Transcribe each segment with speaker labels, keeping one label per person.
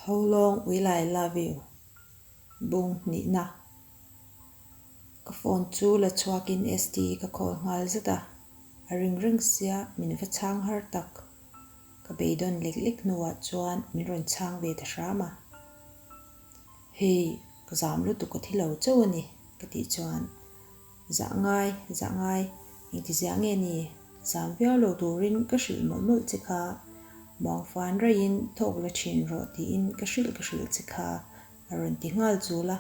Speaker 1: How long will I love you? bung hnihna. Ka phone chu la chhuakin ST ka call nghal zet a, a ring reng sia min va chhang har tak. Ka beidawn lek lek hnuah chuan min rawn chhang ve ta hram a. Hei, ka zam lutuk a thi lo chauh a ni, ka tih chuan. Zah ngai, zah ngai, engtiziah nge ni? Zam viau lo turin ka hrilh mawlh mawlh che kha. Muangfuan reiin thawk la thin rawh tiin ka hrilh ka hrilh che kha a rawn ti nghal chul a.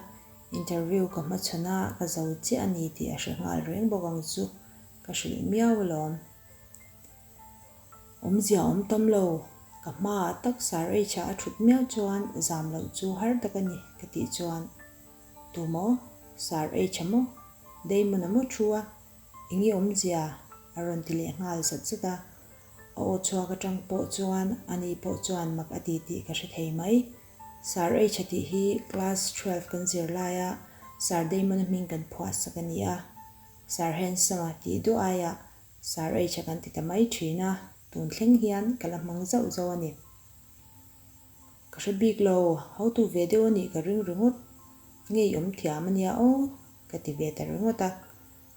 Speaker 1: Interview ka hmachhawn a ka zo chiah a ni tih a hre nghal reng bawk ang chu. Ka hrilh miau alawm. Awmzia awm tam lo. Ka hma ah tak Sir H-a a thut miau chuan, Zam loh chu har tak a ni, ka tih chuan, Tu maw? Sir H a maw? Damon a maw thu a? Eng i awmzia? a rawn ti leh nghal zat zat a. A aw chhuak atang pawh chuan ani pawh chuan mak a ti tih ka hre thei mai. Sir H a tih hi class twelve kan zir laia Sir Damon a hming kan phuahsak a ni a. Sir Handsome a tih duah aia Sir H a kan ti ta mai thin a, tun thleng hian ka la hmang zauh zauh a ni. Ka hre bik lo, hotu ve deuh a nih ka ring ringawt, ngei awm thiam a nia aw ka ti ve ta ringawt a,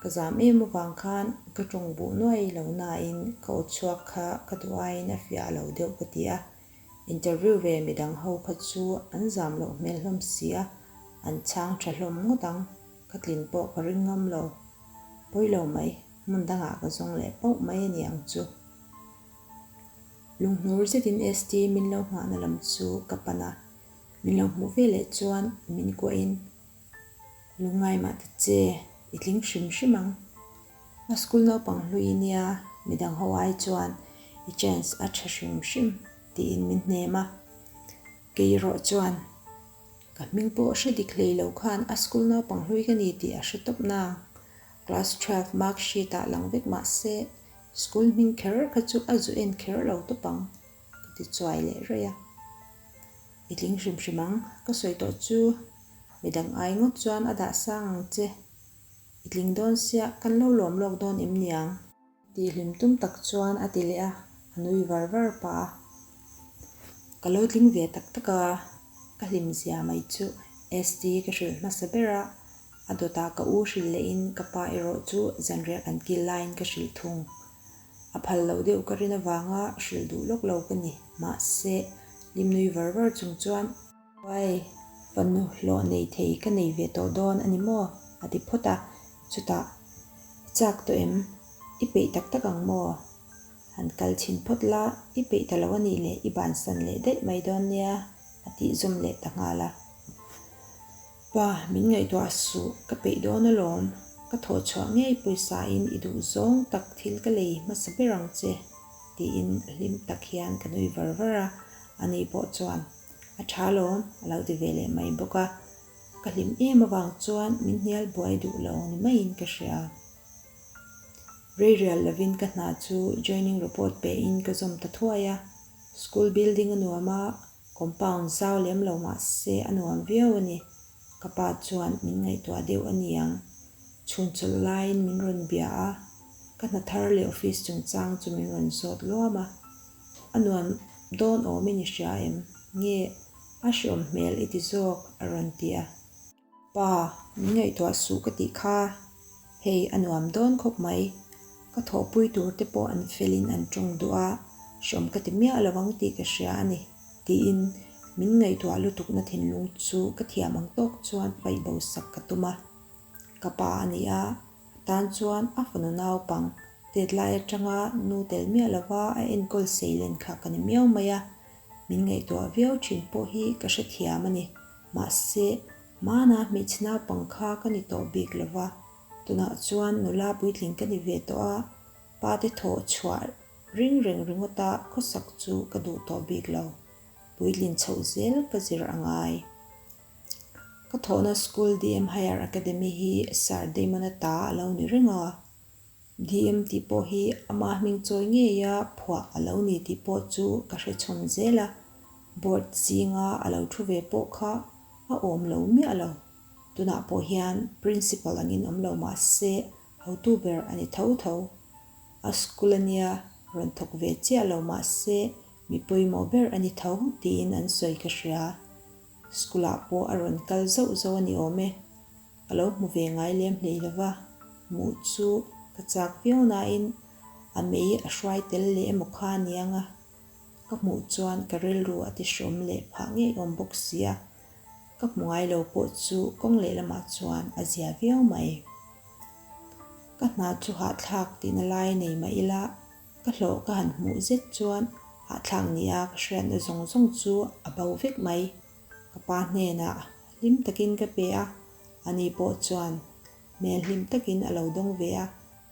Speaker 1: ka zam em avang khan ka tawng buh nuai lo nain ka aw chhuak kha ka duh aiin a fiah lo deuh ka ti a, interview ve midang ho kha chu an zam loh hmel hlawm si a, an chhang tha hlawm ngawt ang, ka tlin pawh ka ring ngam lo, pawi lo mai, hmun dangah ka zawng leh pauh mai a ni ang chu. Lunghmur zetin ST min lo nghahna lam chu ka pan a, min lo hmuh ve leh chuan min kuahin Lungngai mah ta che, i tling hrim hrim ang. A school naupang hlui i nia, midang ho ai chuan i chance a tha hrim hrim tiin min hnem a. Keirawh chuan ka hming pawh hre dik hlei lo khan a school naupang hlui ka ni tih a hre tawp nang. Class twelve mark sheet ah lang vek mah se, School hming kher kha chu a zu en kher lo tawp ang, ka ti chuai leh raih a. I tling hrim hrim ang, ka sawi tawh chu midang ai ngawt chuan a dah sang ang che, i tling dawn sia, kan lo lawm lawk dawn em niang? Tih hlim tum tak chuan a ti leh a, a nui var var pah a. Ka lo tling ve tak tak a, ka hlim zia mai chu ST ka hrilh hmasa ber a, A dawtah ka u hrilh lehin ka pa erawh chu zanriah kan kil laiin ka hrilh thung. A phal loh deuh ka rin avanga hrilh duh lawk lo ka ni. Mahse, lim nui var var chung chuan. Vai, va nu hlawh nei thei ka nei ve tawh dawn a ni maw? a ti phawt a. Chutah, I chak tawh em? I peih tak tak ang maw? Han kal chhin phawt la, i peih ta lo a nih leh, i bansan leh daih mai dawn nia, a tih zawm leh ta nghal a. Pa, min ngaihtuah suh, ka peih dawn alawm, ka thawh chhuah ngei pawisa-in i duh zawng tak thil ka lei hmasa ber ang che, tiin a hlim tak hian ka nui var var a, a ni pawh chuan a tha lawm a lo ti ve leh mai bawk a, ka hlim em avang chuan min hnial buai duh lo ni maiin ka hria. Reirial lovin ka hna chu joining report pehin ka zawm ta thuai a, school building a nuam a, Compound zau lem lo mah se a nuam viau a ni. Ka pa chuan min ngaihtuah deuh a ni ang. Chhun chawlh laiin min rawn bia a, ka hna thar leh office chungchang chu min rawn sawt luam a. A nuam dawn awm i ni hria em? Nge a hriawm hmel i ti zawk? a rawn ti a. Pa, min ngaihtuah suh ka tih kha hei a nuam dawn khawp mai. Ka thawhpui tur te pawh an fel in an tawng duh a, hreawm ka ti miah lo ang tih ka hria a ni. Tiin min ngaihtuah lutukna thinlung chu ka thiam ang tawk chuan paih bo sak ka tum a. Ka pa a ni a, a tan chuan a fanu naupang Tetlai atanga nu tel miah lo a, a enkawl sei len kha ka ni miau mai a. Min ngaihtuah viau thin pawh hi ka hrethiam a ni. Mahse, hmana hmeichhe naupang kha ka ni tawh bik lo va, tunah chuan nula puitling ka ni ve tawh a, pate thawh chhuah ring reng ringawta khawsak chu ka duh tawh bik lo. Puitling chhoh zel ka zir a ngai. Ka thawhna school DM Higher Academy hi Sir Damona ta a lo ni reng a. DM tih pawh hi amah hming chawi ngei a phuah a lo ni tih pawh chu ka hre chhawn zel a, Board zinga a lo thu ve pawh kha a awm lo miah lo, tunah pawh hian Principal angin awm lo mah se hotu ber a ni tho tho. A school a nia rawn thawk ve chiah lo mah se mi pawimawh ber a ni tho tiin an sawi ka hria, school ah pawh a rawn kal zauh zauh a ni awm e. Ka lo hmu ve ngai lem hlei lo va, muh chu ka chak viau nain a mei a hruai tel leh emaw kha aniang a, ka hmuh chuan ka rilru a ti hrawm leh phah ngei awm bawk sia, ka hmu ngai lo pawh chu kawng leh lamah chuan a zia viau mai. Ka hna chu hahthlak tihna lai nei mah ila, ka hlawh ka han hmuh zet chuan hahthlak nia ka hriatna zawng zawng chu a bo vek mai. Ka pa hnenah hlim takin ka pe a, a ni pawh chuan hmel hlim takin a lo dawng ve a,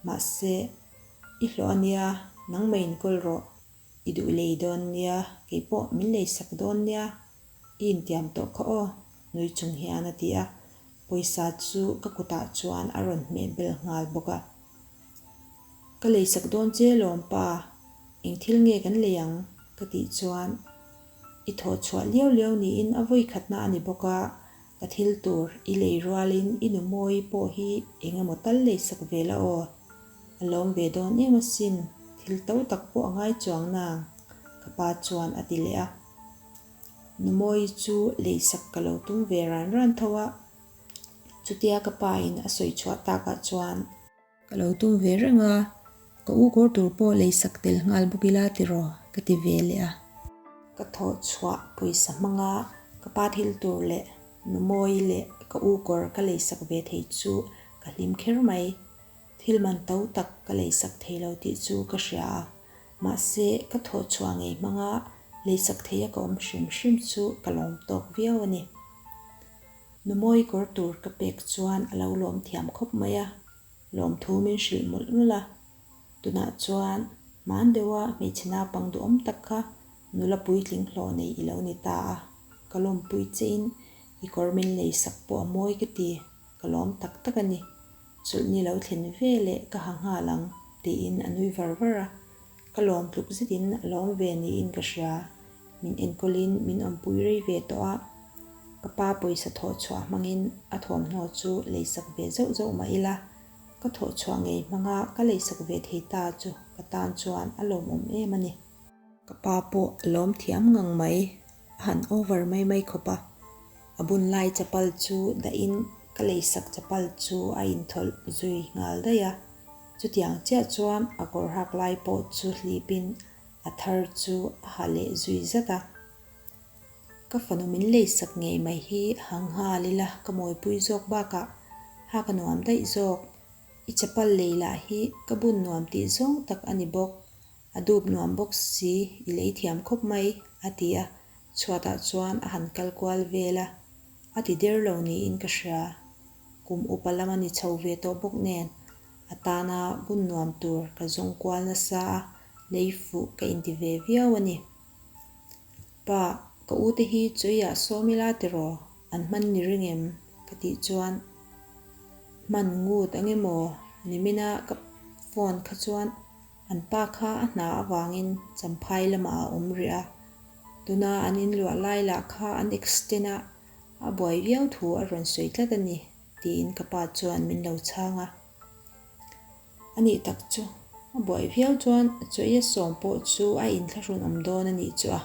Speaker 1: mahse, I hlawh a nia, nangmei in kawl rawh, i duh lei dawn nia, kei pawh min lei sak dawn nia, i intiam tawh kha aw, nui chung hian a ti a, pawisa chu ka kutah chuan a rawn hmeh bel nghal bawk a, ka lei sak dawn che lawm pa, eng thil nge kan lei ang? ka tih chuan. I thawhchhuah liau liau niin a vawi khatna a ni bawk a, ka thil tur i lei rualin i nu mawi pawh hi eng emaw tal lei sak ve la aw. A lawm ve dawn em asin, thil to tak pawh a ngai chuang nang, ka pa chuan a ti leh a. Nu mawi chu lei sak ka lo tum ve ran ran tho a, chutia ka pa in a sawi chhuah takah chuan, Ka lo tum ve reng a, ka u kawr tur pawh lei sak tel nghal bawk ila tiraw? ka ti ve leh a. Ka thawh chhuah pawisa hmanga ka pa thil tur leh numawi leh ka u kawr ka lei sak ve thei chu ka hlim kher mai. Thil man to tak ka lei sak thei lo tih chu ka hria a, mahse ka thawh chhuah ngei hmanga lei sak theia ka awm hrim hrim chu ka lawm tawk viau a ni. Numawi kawr tur ka pek chuan a lo lawm thiam khawp mai a, lawmthu min hrilh ngulh ngulh a. Tunah chuan hmaan deuha hmeichhe naupang duhawm tak kha nula puitling hlawh nei i lo ni ta a, ka lawmpui chein i kawr min lei sak pawh a mawi ka ti, ka lawm tak tak a ni. Chulh ni lo thlen ve leh ka ha nghal ang, tiin a nui var var a. Ka lawm tluk zetin a lawm ve niin ka hria. Min enkawlin min awmpui rei ve tawh a, ka pa pawisa thawh chhuah hmangin a thawmhnaw chu leisak ve zeuh zeuh mah ila. Ka thawh chhuah ngei hmanga ka leisak ve thei ta chu ka tan chuan a lawmawm em a ni. Ka pa pawh a lawm thiam ngang mai, a han over mai mai khawp a, a bun lai chapal chu dahin ka lei sak chapal chu a inthawlh zui nghal daih a, chutiang chiah chuan a kawr hak lai pawh chu hlip in a thar chu a ha leh zui zat a, ka fanu min lei sak ngei mai hi a ha nghal ila ka mawipui zawk bakah ha ka nuam daih zawk, i chapal lei lah hi ka bun nuam tih zawng tak a ni bawk, A dup nuam bawk si, i lei thiam khawp mai, a ti a. Chhuatah chuan a han kal kual vel a, a ti der lo niin ka hria. Kum upa lam a ni chho ve tawh bawk nen a tana bun nuam tur ka zawng kual nasa a, lei fuh ka inti ve viau a ni. Pa, ka ute hi Chawiah Sawmila tiraw an hman ni ring em? ka tih chuan hman ngut angemaw ni mina ka phone kha chuan. An pa kha a hna avangin Champhai lamah a awm rih a, tuna an inluah lai lah kha an extend a, a buai viau thu a rawn sawi tlat a ni, tiin ka pa chuan min lo chhang a. A nih tak chu, a buai viau chuan a chawia sawm pawh chu a inthlahrun awm dawn a nih chu a,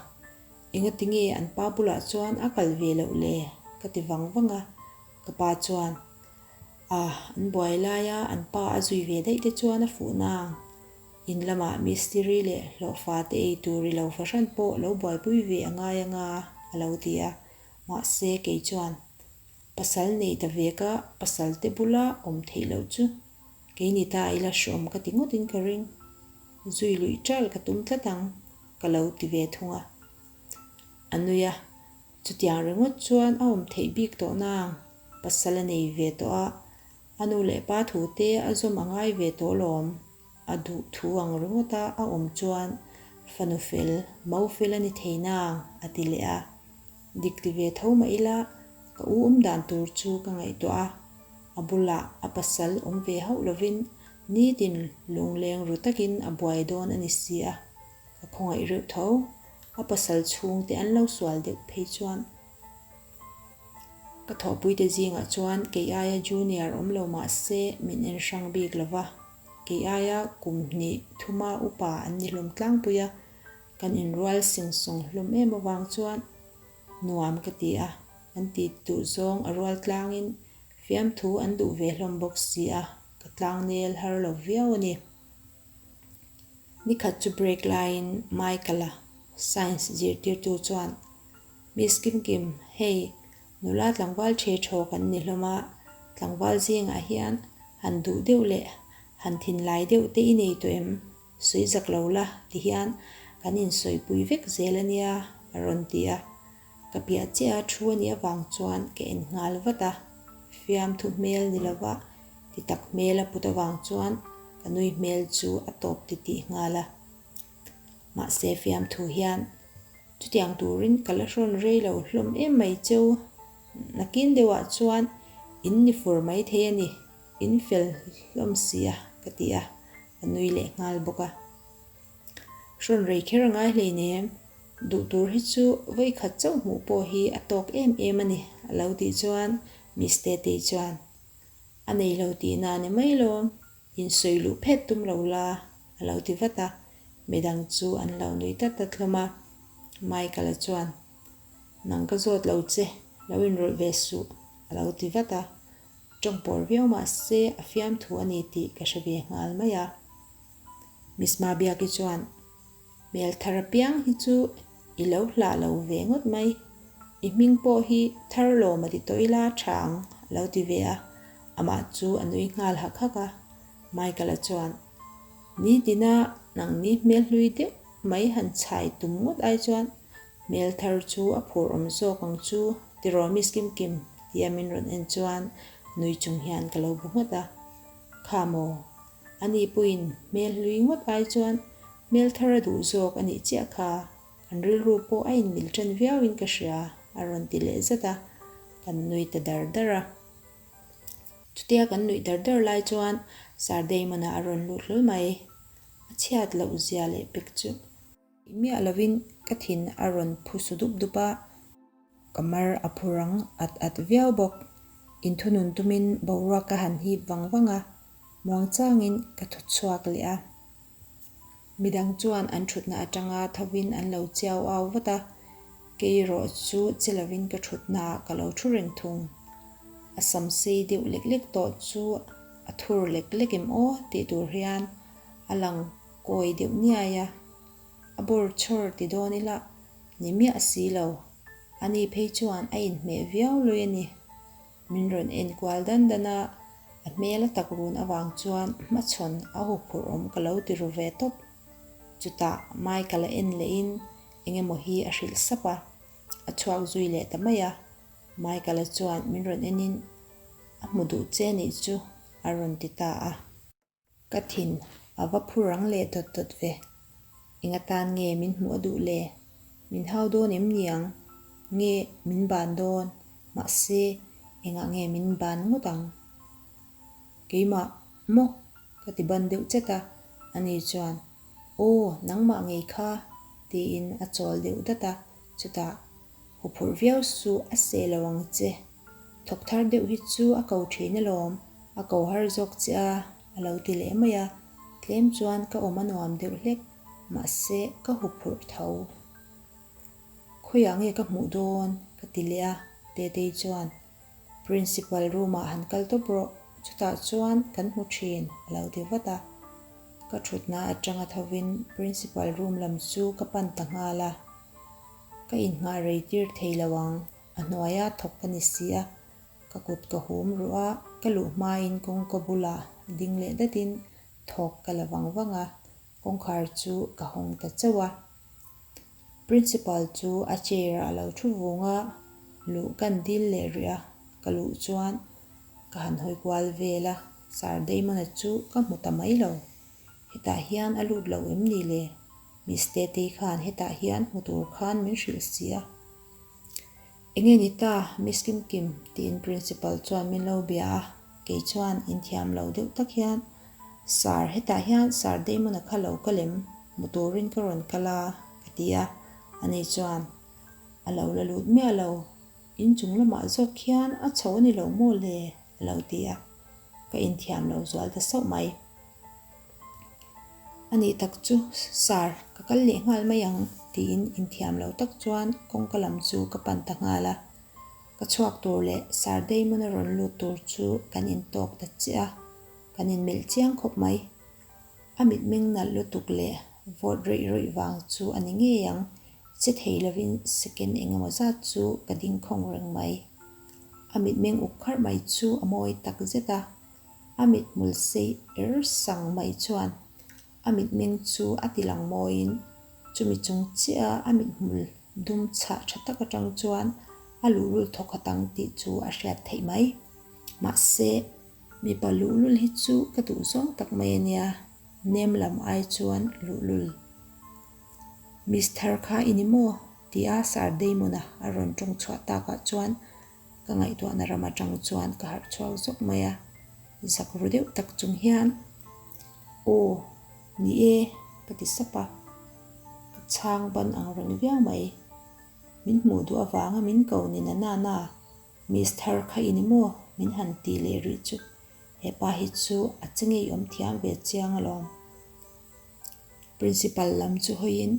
Speaker 1: enga tinge an pa bulah chuan a kal ve loh le ka ti vang vang a, ka pa chuan A an buai lai a, an pa a zui ve daih te chuan a fuh nang. In lamah mistiri leh hlawhfa te ei tur ri lo fahran pawh lo buaipui ve a ngai anga a lo ti a. Mahse kei chuan pasal neih ta ve ka pasal te bula awm theih loh chu. Kei ni ta i la hrawm ka ti ngawt in ka ring. Zui luih tal ka tum tlat ang ka lo ti ve thung a. A nui a. Chutiang ringawt chuan a awm theih bik tawh nang pasal a nei ve tawh a, a nu leh pa thu te a zawm a ngai ve tawh lawm, a duh thu ang ringawt a a awm chuan fanu fel mo fel a ni thei nang a ti leh a, dik ti ve tho mah ila ka u awm dan tur chu ka ngaih tawh a, a bulah a pasal awm ve hauh lovin nitin lungleng ru takin a buai dawn a ni si a. A khawngaih reuh tho. A pasal chhungte an lo sual deuh phei chuan ka thawhpuite zingah chuan kei aia junior awm lo mah se min en hrang bik lo va. Kei aia kum hnih thuma upa an ni hlawm tlangpui a, kan inrual sing sawng hlawm em avang chuan nuam ka ti a, an ti duh zawng a rual tlangin fiamthu an duh ve hlawm bawk si a, ka tlangnel har lo viau a ni. Nikhat chu break laiin Michael-a science zirtirtu chuan, Miss Kim Kim, hei nula tlangval ṭhe ṭhaw kan ni hlawm a, tlangval zingah hian han duh deuh leh han thinlai deuh te i nei tawh em? Sawi zak lo la ti hian kan insawipui vek zel a nia, a rawn ti a. Ka piah chiah a thu a nih avang chuan ka en nghal vat a, fiam thu hmel ni lo va, ti tak hmel a put avang chuan ka nui hmel chu a tawp ti tih nghal a. Mahse fiam thu hian chutiang turin ka la hrawn rei lo hlawm em mai che u, nakin deuhah chuan in ni fur mai thei a ni, in fel hlawm si a ka ti a, ka nui leh nghal bawk a. Rawn rei kher a ngai hlei nei em? Duh tur hi chu vawi khat chauh hmuh pawh hi a tawk em em a ni, a lo tih chuan Miss Tetei chuan a nei lo tihna a ni mai lawm, insawi luh phet tum lo la a lo ti vat a, midang chu an lo nui ta ta thlawm a. Michael-a chuan, Nang ka zawt lo che, lo inrawlh ve suh, a lo ti vat a, tawng pawr viau mah se a fiamthu a ni tih ka hre ve nghal mai a. Misma biaki chuan, Hmel thar apiang hi chu i lo hlah lo ve ngawt mai. I hming pawh hi Tharlawm a ti tawh ila tha ang, a lo ti ve a. Amah chu a nui nghal hak hak a. Michael-a chuan, Nitina nang ni hmel hlui deuh mai han chhai tum ngawt ai chuan hmel thar chu a phur awm zawk ang chu ti rawh Miss Kimkim, tia min rawn en chuan nui chung hian ka lo bu ngawt a. Kha maw, A nih pawhin hmel hlui ngawt ai chuan hmel thar a duh zawk a nih chiah kha, kan rilru pawh a inmilh ṭan viauin ka hria, a rawn ti leh zet a, kan nuih ta dar dar a. Chutia kan nuih dar dar lai chuan Sir Damon-a a rawn lut hlawl mai, a chhiat loh zia leh pek chu Miah lovin ka thin a rawn phu su dup dup a. Ka mar a phu rang at at viau bawk. Inthunun tumin boruak ka han hip vang vang a, muangchangin ka thut chhuak leh a. Midang chuan an thutna atanga thovin an lo chiau au vat a, keirawh chu che lovin ka thutna ah ka lo thu reng thung. A sam sei deuh lek lek tawh chu a thur lek lek em aw tih tur hian a lang Kawi deuh niai a, a bawr chhawr ti dawn ila, ni miah si lo. A ni phei chuan a inhmeh viau lui a ni. Min rawn enkual dan dan a, a hmel a tak run avang chuan hmachhawn a hu phurh awm ka lo ti ru ve tawp. Chutah Michael a en lehin eng emaw hi a hrilh sap a, a chhuak zui leh ta mai a. Michael a chuan min rawn enin, A hmu duh che nih chu, a rawn ti ta a. Ka thin a va phur ang leh dawt dawt ve. Enga tan nge min hmuh a duh le? Min hau dawn em ni ang? Nge min ban dawn? Mahse, engah nge min ban ngawt ang? Keimah maw? Ka ti ban deuh chet a, ani chuan, Aw, nangmah ngei kha, tiin a chawl deuh dat a, chutah, Haw phurh viau su a seh lo ang che. Thawk thar deuh hi chu a ko thin alawm, a ko har zawk che a, a lo ti leh mai a, tlem chuan ka awm a nuam deuh hlek, mahse ka hu phurh tho. Khawiah nge ka hmuh dawn? ka ti leh a, Tetei chuan Principal room-ah han kal tawp rawh, chutah chuan kan hmu thin, a lo ti vat a. Ka thutna atanga thovin Principal room lam chu ka pan ta nghal a, ka inngah rei tir thei lo ang, A hnuaia thawk ka ni si a, ka kut ka hum ruh a, ka luh hmain kawngka bulah ding leh datin thawk ka la vang vang a, kawngkhar chu ka hawng ta chauh a. Principal chu a chair ah a lo thu vung a, luh kan dil leh rih a, ka luh chuan ka han hawi kual vel a, Sir Damona chu ka hmu ta mai lo, hetah hian a lut lo em ni le? Miss Tetei khan hetah hian hmu tur khan min hrilh si a. Enge ni ta, Miss Kim Kim, tiin Principal chuan min lo bia a, kei chuan inthiam lo deuh tak hian, Sir, hetah hian Sir Damon-a kha lo ka lem, hmu turin ka rawn kal a, ka ti a, ani chuan, A lo la lut miah lo, inchung lamah zawk hian a chho a ni lo maw le? Lo ti a, ka inthiam lo zual ta sauh mai. Anih tak chu sir, ka kal leh nghal mai ang tiin inthiam lo tak chuan kawngka lam chu ka pan ta nghal a. Ka chhuak tur leh sir Damon-a rawn lut tur chu kan intawk ta chiah a, kan inmelh chiang khawp mai. A mitmeng nalh lutuk leh vote raih raih vang chu a ni ngei ang. Che thei lovin second eng emaw zat chu ka dingkhawng reng mai. A mitmeng uk kharh mai chu a mawi tak zet a. A mit hmul sei er sang mai chuan a mitmeng chu a ti lang mawiin chumi chung chiaha a mit hmul dum chhah tha tak atang chuan a luhrul thawkhat ang tih chu a hriat theih mai. Mahse. Mipa luhlul hi chu ka duh zawng tak mai ania, nem lam ai chuan luhlul. Mister kha i ni maw? tia Sir Damon-a a rawn tawng chhuah takah chuan ka ngaihtuahna ram atang chuan ka harh chhuak zawk mai a, zak ru deuh tak chung hian Aw ni e ka ti sap a, ka chhang ban ang reng viau mai. Min hmuh duh avanga min ko ni na nana. Mister kha i ni maw? Min han tih leh rih chu. Hepa hi chu a che ngei awm thiam ve chiang alawm. Principal lam chu hawiin,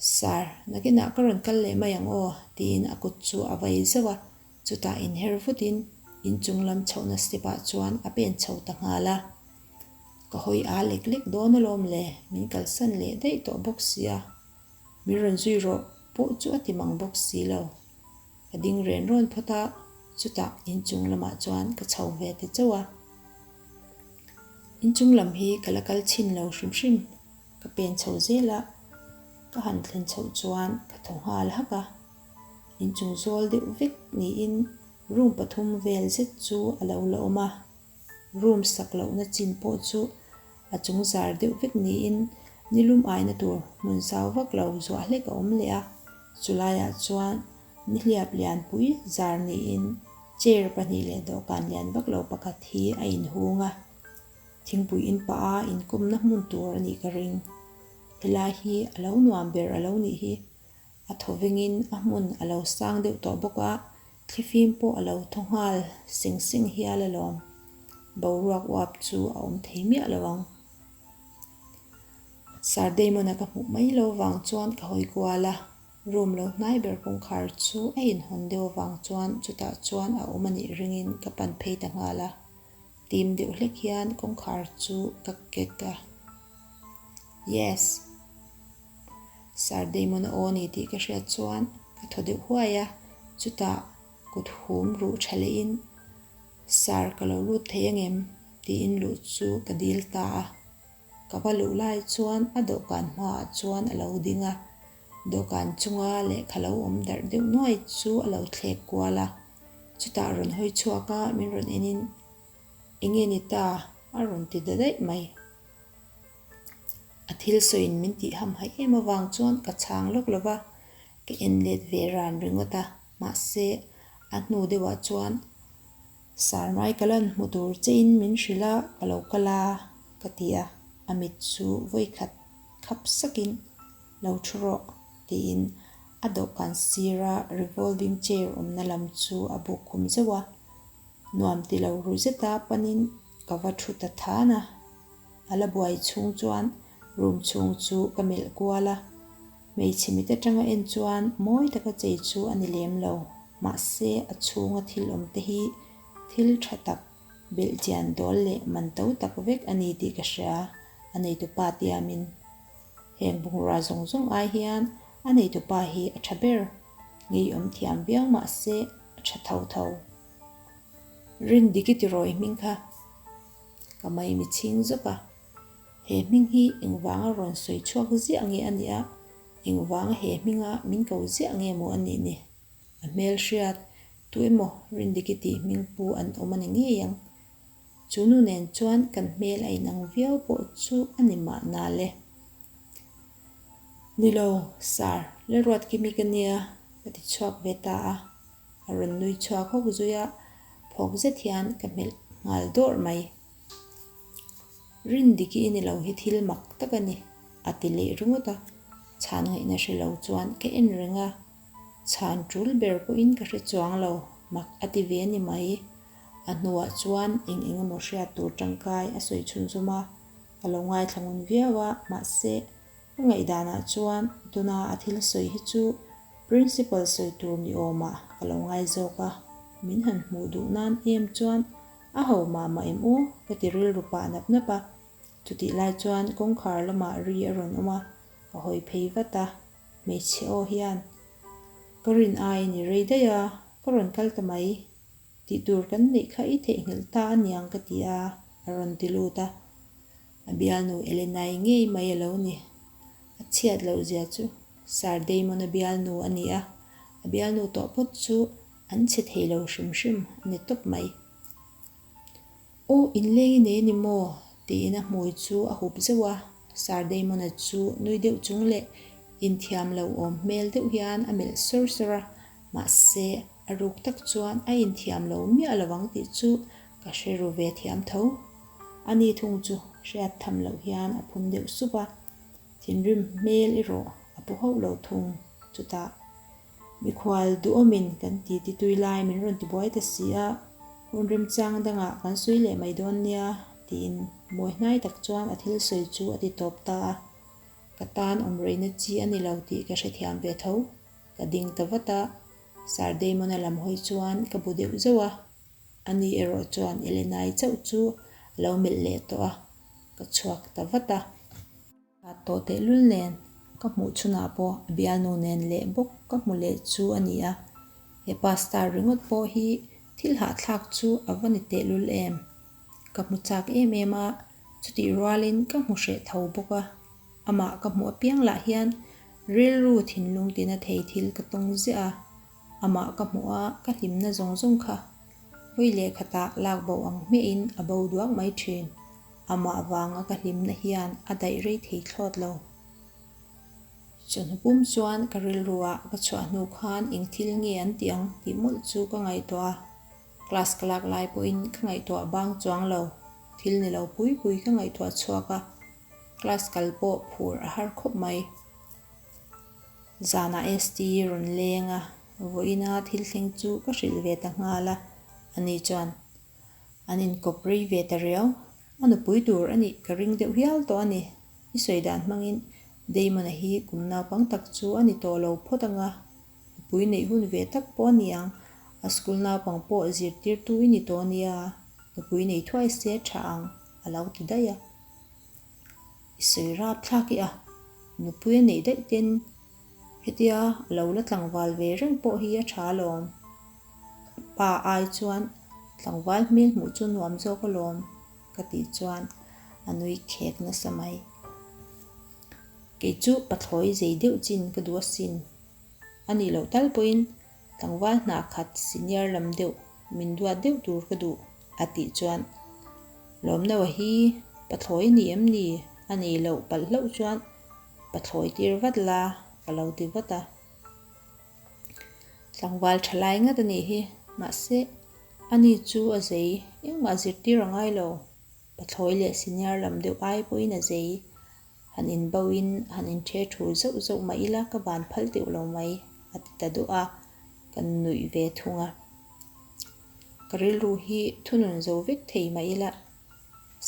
Speaker 1: Sir, nakinah ka rawn kal leh mai ang aw, tiin a kut chu a vai zauh a. Chutah inher vutin inchung lam chhoh na step-ah chuan a pen chho ta nghal a. Ka hawi â lek lek dawn alawm le, min kalsan leh daih tawh bawk si a. Min rawn zui rawh pawh chu a ti mang bawk si lo. Ka ding ren rawn phawt a, chutah inchung lamah chuan ka chho ve ta chauh a. Inchung lam hi ka la kal chhin lo hrim hrim, ka pen chho zel a, ka han thlen chhoh chuan ka thaw nghal hak a. Inchung zual deuh vek niin room pathum vel zet chu a lo la awm a. Room sak lohna chin pawh chu a chung zar deuh vek niin nilum aina tur hmun sau vak lo zuah hlek a awm leh a. Chu laiah chuan nihliap lianpui zar niin chair pahnih leh dawhkan lian vak lo pakhat hi a inhung a. Thingpui in pah a inkawmna hmun tur a nih ka ring. Helai hi a lo nuam ber a lo nih hi. A thawvengin a hmun a lo sang deuh tawh bawk a, Thlifim pawh a lo thaw nghal seng seng hial a lawm. Boruak uap chu a awm thei miah lo ang. Sir Damon-a ka hmuh mai lo vang chuan ka hawi kual a, room lo hnai ber kawngkhar chu a inhawn deuh avang chuan chutah chuan a awm a nih ringin ka pan phei ta nghal a. Tim deuh hlek hian kawngkhar chu ka kek a. Yes! Sir Damon a aw ni tih ka hriat chuan ka thaw deuh huai a. Chutah kuthum ruh tha lehin, Sir, ka lo lut thei angem? tiin luh chu ka dil ta a. Ka va luh lai chuan a dawhkan hmaah chuan a lo ding a, dawhkan chunga lehkha lo awm darh deuh nuai chu a lo thlek kual a, chutah rawn hawi chhuak a, min rawn en in, Enge ni ta? a rawn ti da daih mai. A thil sawiin min tih hamhaih em avang chuan ka chhang lawk lova, ka en let ve ran ringawt a, mahse a hnu deuhah chuan, Sarmai ka lan hmu tur che in min hrilh a, ka lo kal a ka ti a, a mit chu vawi khat khap sak in, Lo thu rawh tiin a dawhkan sira revolving chair awmna lam chu a buk khum zeuh a, nuam ti lo ru zet a panin ka va thu ta than a, a la buai chhung chuan room chhung chu ka melh kual a. Hmeichhe mit atanga en chuan mawi taka chei chu a ni lem lo, mahse a chhunga thil awm te hi thil tha tak, belh chian dawl leh man to tak vek a ni tih ka hria a, a neitupa tiamin. Heng bungrua zawng zawng ai hian a neitupa hi a tha ber, ngeiawm thiam viau mahse a tha tho tho. Rin dik i ti rawi hming kha ka mai mi chhing zawk a. He hming hi engvanga rawn sawi chhuak ziah nge a nih a, engvanga he hminga min ko ziah nge maw a nih ni? A hmelhriat tu emaw Rindiki tih hming pu an awm a ni ngei ang. Chu nu nen chuan kan hmel a inang viau pawh chu a ni mah na le. Ni lo sir, Lalruat Kimi ka nia ka ti chhuak ve ta a. A rawn nui chhuak hawk zui a, phawk zet hian ka hmelh nghal dawrh mai. Rindiki i ni lo hi thil mak tak a ni, a ti leh ringawt a. Chhan ngaihna hre lo chuan ka en reng a, chhan tul ber pawhin ka hre chuang lo, mak a ti ve a ni mai. A hnuah chuan eng eng emaw hriat tur tangkai a sawi chhun zawm a, ka lo ngaithla ngun viau a, mahse, ka ngaihdanah chuan tuna a thil sawi hi chu principal sawi tur ni awmah ka lo ngai zawk a. Min han hmuh duh nan em chuan. A ho mama em u? ka ti rilru pah nap nap a, chutih lai chuan kawngkhar lamah ri a rawn awm a, ka hawi phei vat a, hmeichhe aw hian ka rin ai a ni rei daih a, ka rawn kal ta mai, tih tur kan neih kha i theihnghilh ta aniang ka ti a, a rawn ti lut a, a bialnu Elenai ngei mai a lo ni, a chhiat loh zia chu Sir Damon-a bialnu a ni a, a bialnu tawh phawt chu. An chhe thei lo hrim hrim a ni tawp mai. Aw in leng i nei a ni maw? tiin a hmui chu a hup zeuh a, Sir Damona chu nui deuh chung leh inthiam lo awm hmel deuh hian a melh sawr sawr a, mahse a ruk tak chuan a inthiam lo miah lo ang tih chu ka hre ru ve thiam tho. A ni thung chu hriat tham loh hian a phun deuh sup a, thinrim hmel erawh a pu hauh lo thung chutah. Mikhual duhawmin kan ti ti tui lai, min rawn ti buai ta si a, hun remchang dangah kan sawi leh mai dawn nia tiin mawi hnai tak chuan a thil sawi chu a ti tawp ta a, ka tan awm rehna chi a ni lo tih ka hrethiam ve tho, ka ding ta vat a, Sir Damona lam hawi chuan ka bu deuh zeuh a, a ni erawh chuan Elena-i chauh chu a lo melh leh tawh a, ka chhuak ta vat a. Tat tawh tehlul nen ka hmuh chhunah pawh a bialnu nen leh bawk ka hmu leh chu a ni a, he pa star ringawt pawh hi thil hahthlak chu a va ni tehlul em? Ka hmu chak em em a, chutih rualin ka hmu hreh tho bawk a, amah ka hmu apiang lah hian rilru thinlung tina thei thil ka tawng ziah a, Amah ka hmuh a, ka hlimna zawng zawng kha hawi lehkhatah lak boh ang hmehin a bo duak mai thin. Amah vanga ka hlimna hian a daih rei thei thlawt lo. Chawhnu pum chuan ka rilru ah ka chhuah hnu khan engthil nge an tih ang tih mawlh chu ka ngaihtuah a. Class ka lak lai pawhin ka ngaihtuah bang chuang lo. Thil ni lo pui pui ka ngaihtuah chhuak a. Class kal pawh phur a har khawp mai. Zanah ST i rawn leng a, vawiin a thil thleng chu ka hrilh ve ta nghal a, ani chuan an inkawp rei ve ta riau. A nupui tur a nih ka ring deuh hial tawh a ni. I sawi dan hmangin Damon-a hi kum naupang tak chu a ni tawh lo phawt ang a, nupui neih hun ve tak pawh a ni ang. A school naupang pawh zirtirtu i ni tawh a nia, nupui nei thuai se tha ang, a lo ti daih a. I sawi rap thlak i a, nupui a nih daih ten hetia a lo la tlangval ve reng pawh hi a tha lawm. Ka pa ai chuan tlangval hmel hmuh chu nuam zawk a lawm ka tih chuan a nui khek nasa mai. Kei chu pathlawi zei deuh chin ka duh asin. A nih loh tal pawhin. Tlangval hna khat senior lam deuh min duat deuh tur ka duh a tih chuan Lawmnava hi pathlawi a ni em ni a nei loh palh hlauh chuan pathlawi tir vat la ka lo ti vat a. Tlangval tha lai ngat a nih hi mahse a ni chu a zei engmah zirtir a ngai lo, pathlawi leh senior lam deuh ai pawhin a zei. Han inbo in han in ṭhe ṭhu zeuh zeuh mah ila ka van phal deuh lo mai a ti ta duh a, kan nuih ve thung a. Ka rilru hi thunun zo vek thei mah ila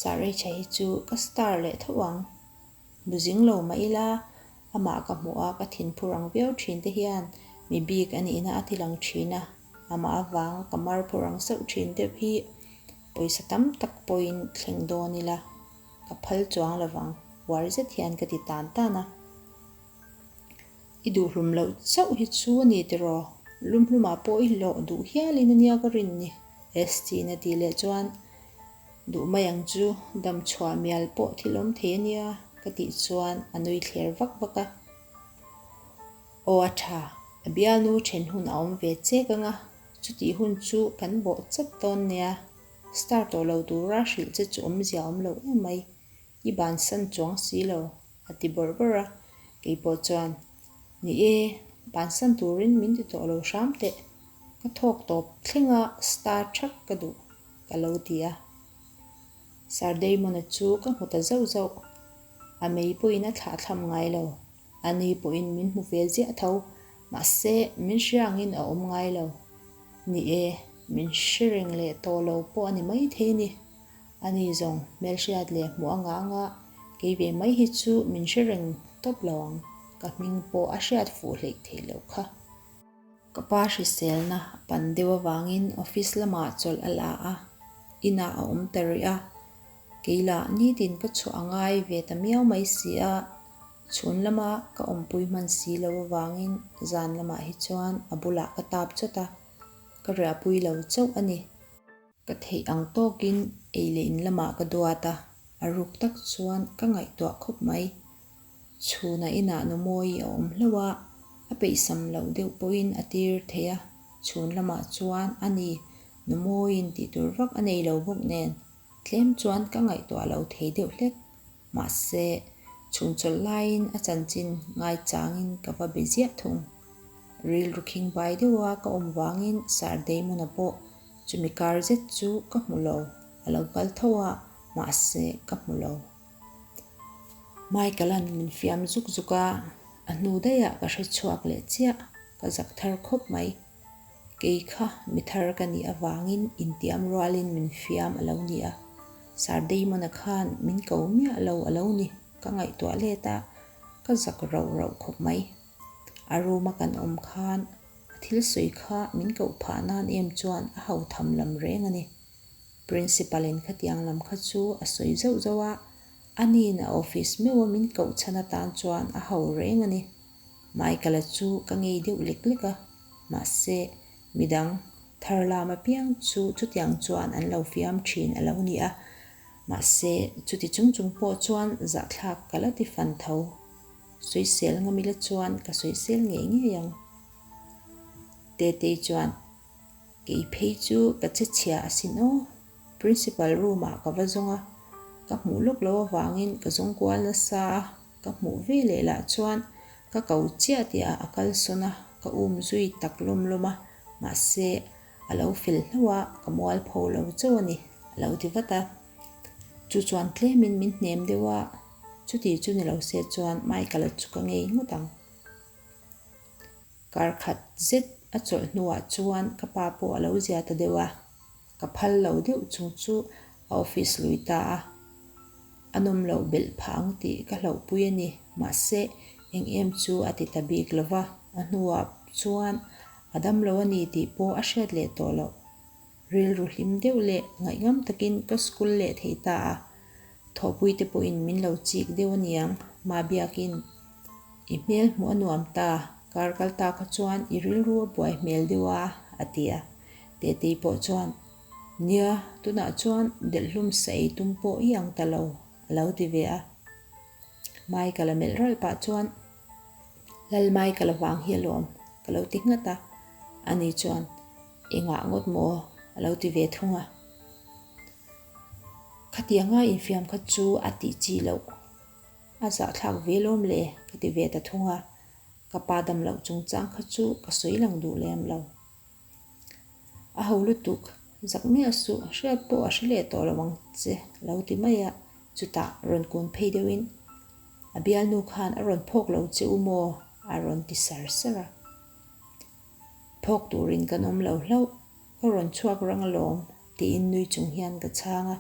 Speaker 1: Sarecha hi chu ka star leh tho ang. Bu zing lo mah ila amah ka hmuh a ka thin phur ang viau ṭhin te hian mi bik a nihna a thil ang ṭhin a, amah avanga ka mar phur ang sauh ṭhin deuh hi pawisa tam tak pawhin thleng dawn ila. Ka phal chuang lo vang. Uar zet hian ka ti tan tan a. I duh hlum loh chauh hi chu a ni tiraw? Hlum hlumah pawh i hlawh duh hial in ania ka rin ni. Esty na tih leh chuan duh mai ang chu dam chhuah mial pawh thil awm thei ania ka tih chuan a nui thler vak vak a. Aw a tha, a bialnu then hun a awm ve che ka nga. Chutih hun chu kan bawh chat dawn nia. Star tawh lo tura hrilh che chu awmzia a awm lo em mai. I ban san chuang si lo, a ti bawrh bawrh a. Keipawh chuan, Ni e, ban san turin min ti tawh lo hram teh. Ka thawk tawp thleng a, star ṭhak ka duh, ka lo ti a. Sir Damon-a chu ka hmu ta zauh zauh. A mei pawhin a thlahthlam ngai lo. A ni pawhin min hmu ve ziah tho. Mahse, min hre angin a awm ngai lo. Ni e, min hre reng leh tawh lo pawh a ni maithei ni. A ni zawng hmelhriat leh hmuh a ngah a ngah, kei ve mai hi chu min hre reng tawp lo ang. Ka hming pawh a hriat fuh hleih theih loh kha. Ka pa hriselna a pan deuh avangin office lamah chawlh a la a, inah a awm ta rih a. Kei lah nitin ka chhuah a ngai ve ta miau mai si a, chhun lama ka awmpui hman si lo avangin zan lamah hi chuan a bulah ka tap chawt a, ka riahpui lo chauh a ni. Ka theih ang tawkin ei leh in lamah ka duat a, a ruk tak chuan ka ngaihtuah khawp mai. Chhunah inah nu Mawi a awm hlo a, a peihsam loh deuh pawhin a tir thei a, chhun lamah chuan a ni, nu Mawiin tih tur vak a nei lo bawk nen. Tlem chuan ka ngaihtuah lo thei deuh hlek. Mahse, chhungchawlh laiin a chanchin ngaichangin ka va be ziah thung. Rilru khing bai deuha ka awm vangin Sir Damona pawh chumi kar zet chu ka hmu lo, a lo kal tho a, mahse, ka hmu lo. Michael-a'n min fiam zuk zuk a, a hnu daihah ka hre chhuak leh chiah, ka zak thar khawp mai. Kei kha mi thar ka nih avangin intiam rualin min fiam a lo ni a, Sir Damon-a khan min ko miah lo a lo ni, ka ngaihtuah let a, ka zak rauh rauh khawp mai. A room-a kan awm khan a thil sawi kha min koh phah nan em chuan a ho tham lam reng a ni. Principal-in khatiang lam kha chu a sawi zauh zauh a, a niin a office meuh a min koh chhan atan chuan a ho reng a ni. Michaela chu ka ngei deuh lek lek a, mahse midang thar lam apiang chu chutiang chuan an lo fiam thin a lo ni a, mahse chuti chung chung pawh chuan zahthlak ka la ti fan tho, soisel ngawm ila chuan ka soisel ngei ngei ang. Tetei chuan, Kei phei chu ka che chhia a sin aw, Principal room ah ka va zawng a, ka hmuh lawk lo avangin ka zawng kual nasa a. Ka hmuh ve leh lah chuan ka ko chiah tih ah a kal sawn a, ka um zui tak lawm lawm a, mahse a lo fel hlauh a, ka mual pho lo chauh a ni, a lo ti vat a, chu chuan tlem in min hnem deuh a, chuti chu ni lo se chuan Michael-a chu ka ngei ngawt ang. Kar khat zet a chawlh hnu ah chuan ka pa pawh a lo zia ta deuh a, Ka phal lo deuh chung chu a office lui ta a, an awm lo belh phah ang tih ka hlauhpui a ni. Mahse, eng em chu a ti ta bik lo va, a hnuah chuan a dam lo a ni tih pawh a hriat leh tawh loh. Rilru hlim deuh leh ngaih ngam takin ka school leh thei ta a. Thawhpuite pawhin min lo chik deuh a niang. Mah biakin i hmel hmuh a nuam ta, kar kal ta kha chuan i rilru a buai hmel deuh a, a ti a. Tetei pawh chuan, Nia, tunah chuan delhlum sa ei tum pawh i ang ta lo, a lo ti ve a. Michael a melh ralh pah chuan, Lal Michael avang hi a lawm, ka lo ti nghat a. Ani chuan, I ngah ngawt maw? a lo ti ve thung a. Khati anga infiam khat chu a tih chi loh. A zahthlak ve lawm le ka ti ve ta thung a, ka pa dam loh chungchang kha chu ka sawi lang duh lem lo. A ho lutuk zak miah suh, hriat pawh a hre leh tawh lo ang che lo ti mai a, chutah rawn kun phei deuhin a bialnu khan a rawn phawk lo che u maw a rawn ti ser ser a. Phawk turin kan awm lo hlauh, ka rawn chhuak rang alawm, tiin nui chung hian ka chhang a,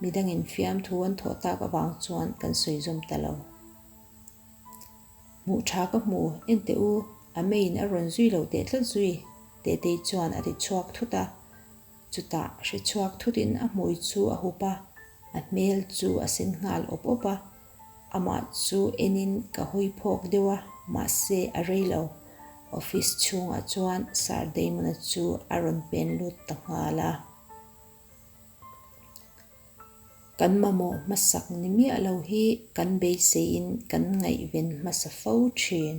Speaker 1: midang infiam thu an thawh tak avang chuan kan sawizawm ta lo. Hmuh tha ka hmu ente u, a meiin a rawn zui lo teh tlat zui, Tetei chuan a ti chhuak thut a, chutah hre chhuak thutin a hmui chu a hup a, a hmel chu a sen nghal awp awp a. Amah chu enin ka hawi phawk deuh a, mahse a rei lo. Office chhungah chuan Sir Damona chu a rawn pen lut ta nghal a. Kan mamawh hmasak ni miah lo hi kan beiseiin kan ngaihven hmasa fo thin.